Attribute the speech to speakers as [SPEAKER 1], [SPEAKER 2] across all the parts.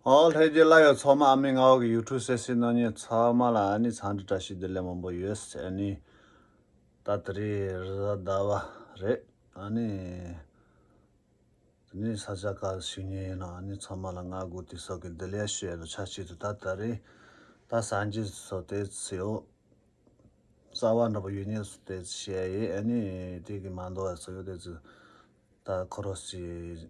[SPEAKER 1] ཨོའོ་ལྷས་རྒྱུད་བླ་ཡོད་ཚོགས་མ་ཨ་མི་ང་བ་གི་ཡུལ་གྲུ་སེ་སི་ནོ་ཉེ་ཚོགས་མ་ལ་ཨ་ནི་ཚང་འདྲི་བཀྲ་ཤིས་བདེ་ལེགས་མང་པོ་ཡོད་སེ་ཨ་ནི་ད་ད་རི་རི་ཟ་ཟླ་བ་རེད་ཨ་ནི་ད་ནི་ས་ཆ་ག་ཞིག་ཉེ་ཡིན་ནོ་ཨ་ནི་ཚོགས་མ་ལ་ང་དགུ་དི་སོགས་གི་བདེ་ལེགས་ཤོད་ཡོད་ཆ་གཅིག་ཏུ་ད་ད་རི་ད་ས་འཇི་སོ་དེ་ཚི་ཨོ་རྩ་བ་འདྲ་པོ་ཡོད་ཉེ་སོ་དེ་ཚི་བཤད་ཡེ་ཨ་ནི་དེ་གི་མ་འདོ་བ་སོ་ཡོད་དེ་ཚི་ད་ཁོ་རོ་སི།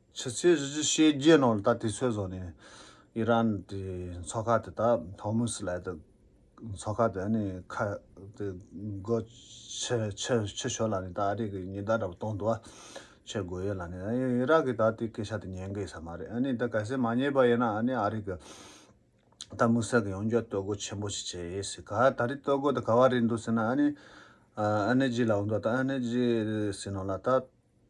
[SPEAKER 1] ཕྱི་ཚེས་བཞི་བཅུ་ཤེས་བརྒྱད་ནང་ལ་ད་དུས་ཚོད་བཟོ་ནས་ཨི་རན་གྱི་མཚོ་ཁ་དེ་དག་ཧོར་མུ་སི་ལའི་དེ་མཚོ་ཁ་དེ་ནས་ཁ་དེ་སྒོ་ཕྱི་ཕྱི་ཕྱི་ཞོར་ལ་ནས་ད་ཨ་རི་ཀའི་ཉི་ཟླ་འདྲ་པོ་གཏོང་འདུག་ཨ་ཕྱི་དགོས་ཡོད་ལ་ནས་ཨ་ཨི་རག་གིས་ད་དེ་སྐད་ཆ་དེ་ཉན་གི་ས་མ་རེད་ཨ་ནི་ད་གལ་སྲིད་མ་ཉན་པ་ཡིན་ན་ཨ་ནི་ཨ་རི་ཀའི་ད་མུ་སེར་གྱི་ཡོང་རྒྱུ་སྟོད་གོ་ཆེན་པོ་ཞིག་བྱེད་ཡེ་སྲིད་ག་ད་རི་སྟོད་གོ་དེ་ག་བ་རེད་འདུག་ཟེར་ན་ཨ་ནི་ཨ་ཨ་ནི་ཇི་ལ་འོང་འདུག་ད་ཨ་ནི་ཇི་ཟེར་ནོ་ལ་ད།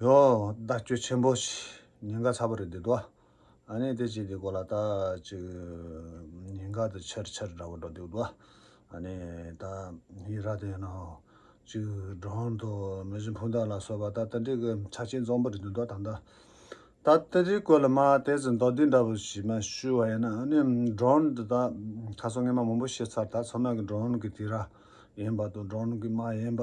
[SPEAKER 1] ཡོ། བརྡ་སྤྲོད་ཆེན་པོ་ཞེས་ཉེན་ཁ་ཚ་པོ་རེད་འདུག་དོ། ཨ་ནི་དེ་ཅི་དེ་གོ་ལ་ད་ཅིག་ཉེན་ཁ་དེ་ཆེར་ཆེར་འདྲ་བོ་འགྲོ་འདུག་དོ། ཨ་ནི་ད་ཡི་ར་དེ་ནང་ཅིག་གྲོང་དུ་མི་བཞི་འཕུང་དག་ལ་གསོལ་བ་ད་ལྟ་འགྲིག་གི་ཆ་ཆེན་འཛོམས་པོ་རེད་འདུག་དོ་ད་ལྟ་ད་ལྟ་རི་གོ་ལ་མ་དེ་ཚོ་མདོ་སྡེ་འདྲ་བོ་ཞིག་མ་ཞུས་བ་ཡིན་ན་ཨ་ནི་གྲོང་དུ་ད་ཁ་སོ་ངེ་མ་མང་པོ་ཤེས་ཚར་ད་ཚོ་ནང་གི་གྲོང་གི་དེ་ར་ཡིན་པ་དང་གྲོང་གི་མ་ཡིན་པ།